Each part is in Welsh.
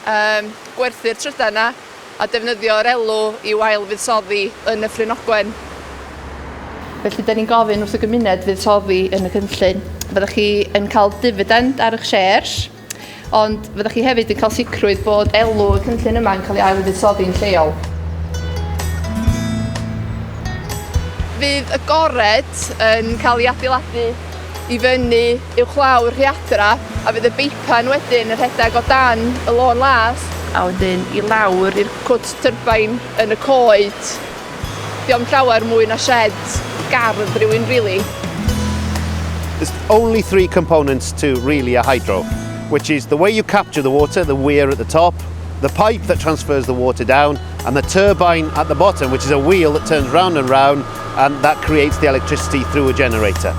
Yym, gwerthu'r trydan 'na a defnyddio'r elw i'w ail-fuddsoddi yn y Ffrin Ogwen. Felly, 'da ni'n gofyn wrth y gymuned fuddsoddi yn y cynllun. Fyddwch chi yn cael difidend ar eich shares, ond fyddwch chi hefyd yn cael sicrwydd bod elw y cynllun yma'n cael ei ail-fuddsoddi'n lleol. Fydd y gored yn cael ei adeiladu i fyny uwchlaw'r rhiadra a fydd y beipan wedyn yn rhedeg o dan y lôn las a wedyn i lawr i'r cwt tyrbain yn y coed. Diom llawer mwy na shed gardd rhywun really. There's only three components to really a hydro, which is the way you capture the water, the weir at the top, the pipe that transfers the water down, and the turbine at the bottom, which is a wheel that turns round and round and that creates the electricity through a generator.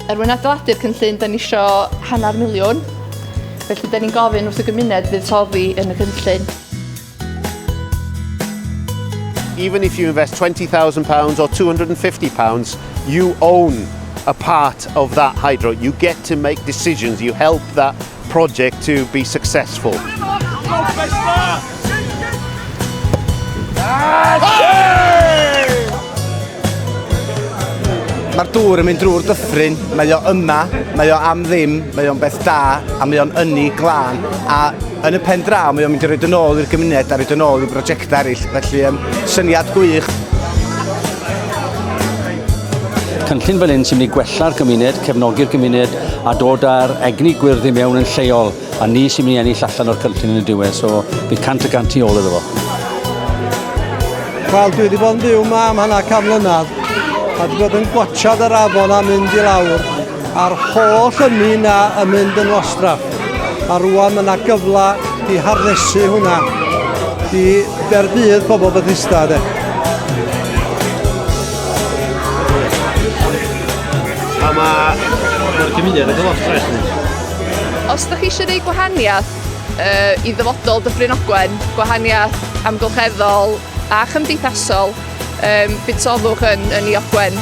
Er mwyn adeiladu'r cynllun, da ni isio hanner miliwn. Felly, da ni'n gofyn wrth y gymuned fydd toddi yn y cynllun. Even if you invest £20,000 or £250, you own a part of that hydro. You get to make decisions. You help that project to be successful. Mae'r dŵr yn mynd drwy'r dyffryn, mae o yma, mae o am ddim, mae o'n beth da, a mae o'n ynni glân, a yn y pen draw mae o'n mynd i roed yn ôl i'r gymuned a roed yn ôl i brosiectau eraill, felly um, syniad gwych. Cynllun fel hyn sy'n mynd i gwella'r gymuned, cefnogi'r gymuned, a dod â'r egni gwyrdd i mewn yn lleol, a ni sy'n mynd i ennill allan o'r cynllun yn y diwedd, so bydd cant y gant i ôl iddo fo. Wel, dwi wedi bod yn byw yma am hana cam mlynedd, a dwi wedi bod yn gwachad yr afon a mynd i lawr, a'r holl ynni yna yn mynd yn wastraff. A rwan mae yna gyfle i harnesu hwnna i dderbydd pobl Bethesda, de. A mae... Mae'r gymuned yn gyfod ffres ni. Os ydych chi eisiau gwneud gwahaniaeth uh, i ddyfodol Dyffryn Ogwen, gwahaniaeth amgylcheddol a chymdeithasol, um, budsodwch yn, yn i Ogwen.